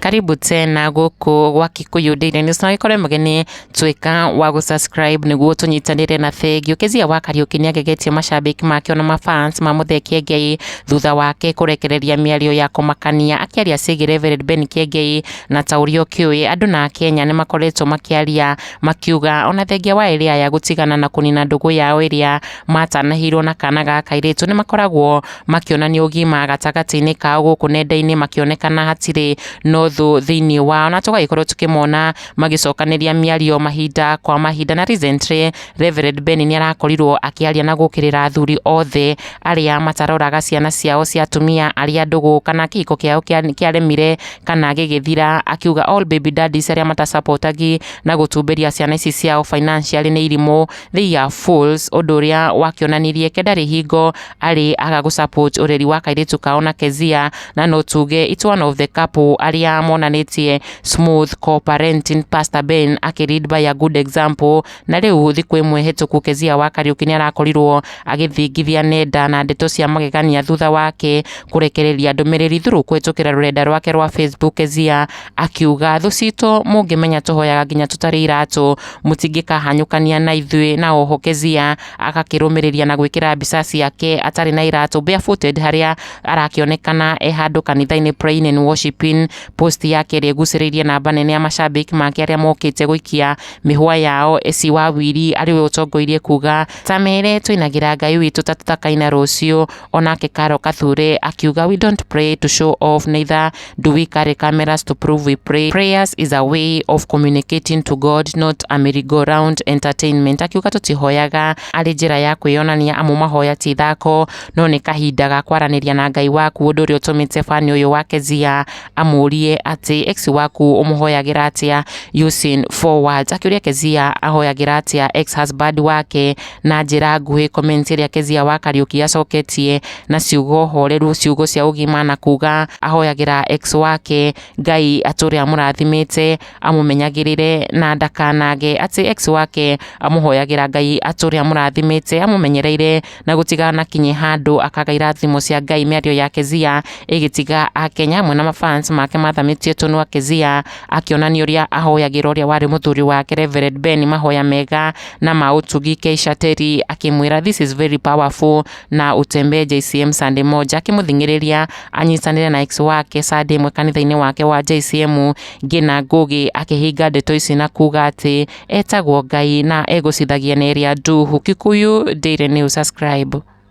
karibu tena gũkũ gwa Kikuyu Daily News na wĩkore mũgeni tuĩka wa gũsubscribe nĩguo tũnyitanĩre na bengi ũkĩzia wa Kariuki nĩagegetie mashabiki make ona mafans mamũthee Kiengei thutha wake kũrekereria mĩario ya kũmakania akĩaria ciĩgiĩ Reverend Ben Kiengei na ta ũrĩa ũkĩũĩ andũ na Akenya nĩmakoretwo makĩaria Makiuga ona thengia wa ĩrĩa ya gũtigana na kũnina ndũgũ yao ĩrĩa matanahĩirwo na kana ga kairĩtu nĩ makoragwo makĩonania ũgima gatagatĩ-inĩ kao gũkũ nenda-inĩ makĩonekana hatirĩ na ũthũ thĩinĩ wao na tũgagĩkorwo tũkĩmona magĩcokanĩria mĩario mahinda kwa mahinda na recently Reverend Ben nĩ arakorirwo akĩaria na gũkĩrĩra athuri othe arĩa mataroraga ciana ciao cia atumia arĩa ndũgũ kana kĩhiko kĩao kĩaremire kana gĩgĩthira akiuga all baby daddies arĩa mata support agi na gũtumbĩria ciana ici ciao financially nĩ irimũ they are fools ũndũ ũrĩa wakĩonanirie ke ndarĩ hingo arĩ aga gũ support ũreri wa kairĩtu kao na Kezia na no tuge it's one of the couple arĩa monanĩtie smooth co-parenting Pastor Ben akĩ lead by a good example Na rĩu gũthiĩ kwĩ mwĩhĩtũku Kezia wa Kariũki nĩarakorirwo agĩthingithia nenda na ndeto cia magegania thutha wake kũrekereria ndũmĩrĩri thurũ kũhĩtũkĩra rũrenda rwake rwa Facebook Kezia akiuga thũ citũ mũngĩmenya tũhoyaga nginya tũtarĩ iratũ mũtingĩkahanyũkania na ithuĩ na oho Kezia agakĩrũmĩrĩria na gwĩkĩra mbica ciake atarĩ na iratũ barefooted harĩa arakĩonekana e handũ kanitha-inĩ praying and worshiping post yake ĩrĩa ĩgucĩrĩirie namba nene ya macambĩki make arĩa mokĩte gũikia mĩhwa yao eci wa wiri arĩwe ũtongoirie kuga tamere twainagĩra ngai witũ ta tũtakaina rũciũ onake karo kathure akiuga we don't pray to show off neither do we carry cameras to prove we pray prayers is a way of communicating to god not a merry-go-round entertainment akiuga tũtihoyaga arĩ njĩra ya kwĩyonania amu mahoya ti ithako no nĩ kahinda ga kwaranĩria na ngai waku ũndũ ũrĩa ũtũmĩte fani ũyũ wake zia amũrie atĩ ex waku ũmũhoyagĩra atĩa using four words akĩũria Kezia ahoyagĩra atĩa ex husband wake na njĩra nguhĩ comment ĩrĩa Kezia wa Kariuki acoketie na ciugo horeru ciugo cia ũgima na kuga ahoyagĩra ex wake Ngai atũre amũrathimĩte amũmenyagĩrĩre na ndakanage atĩ ex wake amũhoyagĩra Ngai atũre amũrathimĩte amũmenyereire na gũtiganakinye handũ akagaira thimo cia ngai mĩario ya kezia ĩgĩtiga akenya amwe na mafans make mathamĩtie tũnua kezia akĩonania ũrĩa ahoyagĩra ũrĩa warĩ mũthuri wake revered ben mahoya mega na ma ũtugi keisha teri akĩmwĩra this is very powerful na utembee jcm sunday moja akĩmũthing'ĩrĩria anyitanĩre na ex wake sunday ĩmwe kanitha-inĩ wake wa jcm ngina ngũgĩ akĩhinga ndeto ici na kuga atĩ Etagwo Ngai na egũcithagia na ĩrĩa Nduhu. Kikuyu Daily News Subscribe.